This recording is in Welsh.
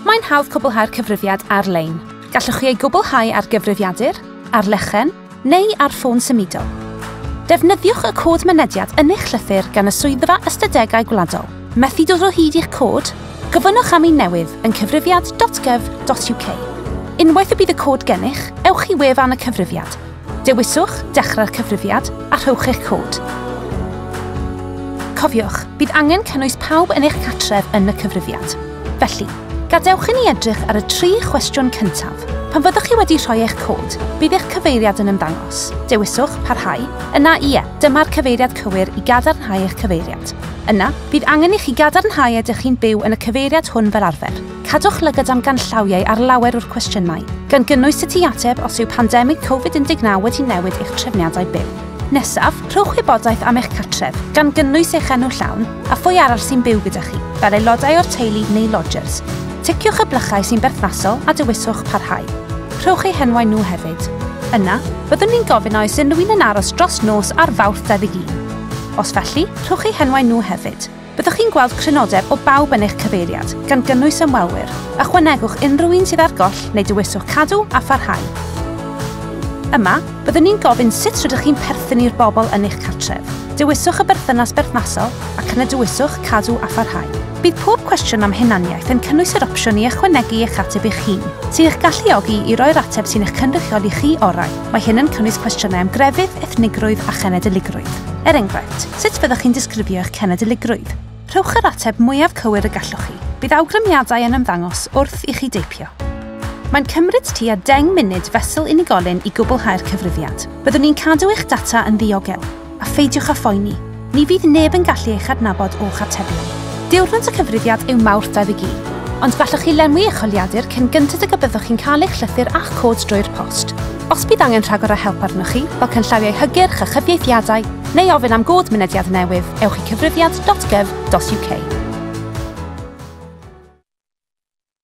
Mae'n hawdd cwblhau'r cyfrifiad ar-lein. Gallwch chi ei gwblhau ar gyfrifiadur, ar lechen, neu ar ffôn symudol. Defnyddiwch y cod mynediad yn eich llythyr gan y Swyddfa Ystadegau Gwladol. Methu dod o hyd i'ch cod? Gofynnwch am un newydd yn cyfrifiad.gov.uk. Unwaith y bydd y cod gennych, ewch i wefan y cyfrifiad. Dewiswch Dechrau'r Cyfrifiad a rhowch eich cod. Cofiwch, bydd angen cynnwys pawb yn eich cartref yn y cyfrifiad. Felly, gadewch i ni edrych ar y tri chwestiwn cyntaf. Pan fyddwch chi wedi rhoi eich cod, bydd eich cyfeiriad yn ymddangos. Dewiswch Parhau, yna Ie, dyma'r cyfeiriad cywir i gadarnhau eich cyfeiriad. Yna, bydd angen i chi gadarnhau a ydych chi'n byw yn y cyfeiriad hwn fel arfer. Cadwch lygad am ganllawiau ar lawer o'r cwestiynau, gan gynnwys sut i ateb os yw pandemig Covid 19 wedi newid eich trefniadau byw. Nesaf, rhowch wybodaeth am eich cartref, gan gynnwys eich enw llawn, a phwy arall sy'n byw gyda chi, fel aelodau o'r teulu neu lodgers. Ticiwch y blychau sy'n berthnasol a dewiswch Parhau. Rhowch eu henwau nhw hefyd. Yna, byddwn ni'n gofyn a oes unrhyw un yn aros dros nos ar Fawrth 21. Os felly, rhowch eu henwau nhw hefyd. Byddwch chi'n gweld crynodeb o bawb yn eich cyfeiriad, gan gynnwys ymwelwyr. Ychwanegwch unrhyw un sydd ar goll neu dewiswch Cadw a Pharhau. Yma, byddwn ni'n gofyn sut rydych chi'n perthyn i'r bobl yn eich cartref. Dewiswch y berthynas berthnasol ac yna dewiswch Cadw a Pharhau. Bydd pob cwestiwn am hunaniaeth yn cynnwys yr opsiwn i ychwanegu eich ateb eich hun, sy'n eich galluogi i roi'r ateb sy'n eich cynrychioli chi orau. Mae hyn yn cynnwys cwestiynau am grefydd, ethnigrwydd a chenedligrwydd. Er enghraifft, sut byddwch chi'n disgrifio eich cenedligrwydd? Rhowch yr ateb mwyaf cywir y gallwch chi. Bydd awgrymiadau yn ymddangos wrth i chi deipio. Mae'n cymryd tua 10 munud fesul unigolyn i gwblhau'r cyfrifiad. Byddwn ni'n cadw eich data yn ddiogel. a pheidiwch â phoeni, ni fydd neb yn gallu eich adnabod o'ch atebion. Diwrnod y cyfrifiad yw Mawrth 21, ond gallwch chi lenwi eich holiadur cyn gynted ag y byddwch chi'n cael eich llythyr a'ch cod drwy'r post. Os bydd angen rhagor o help arnoch chi, fel canllawiau hygyrch a chyfieithiadau, neu ofyn am god mynediad newydd, ewch i cyfrifiad.gov.uk.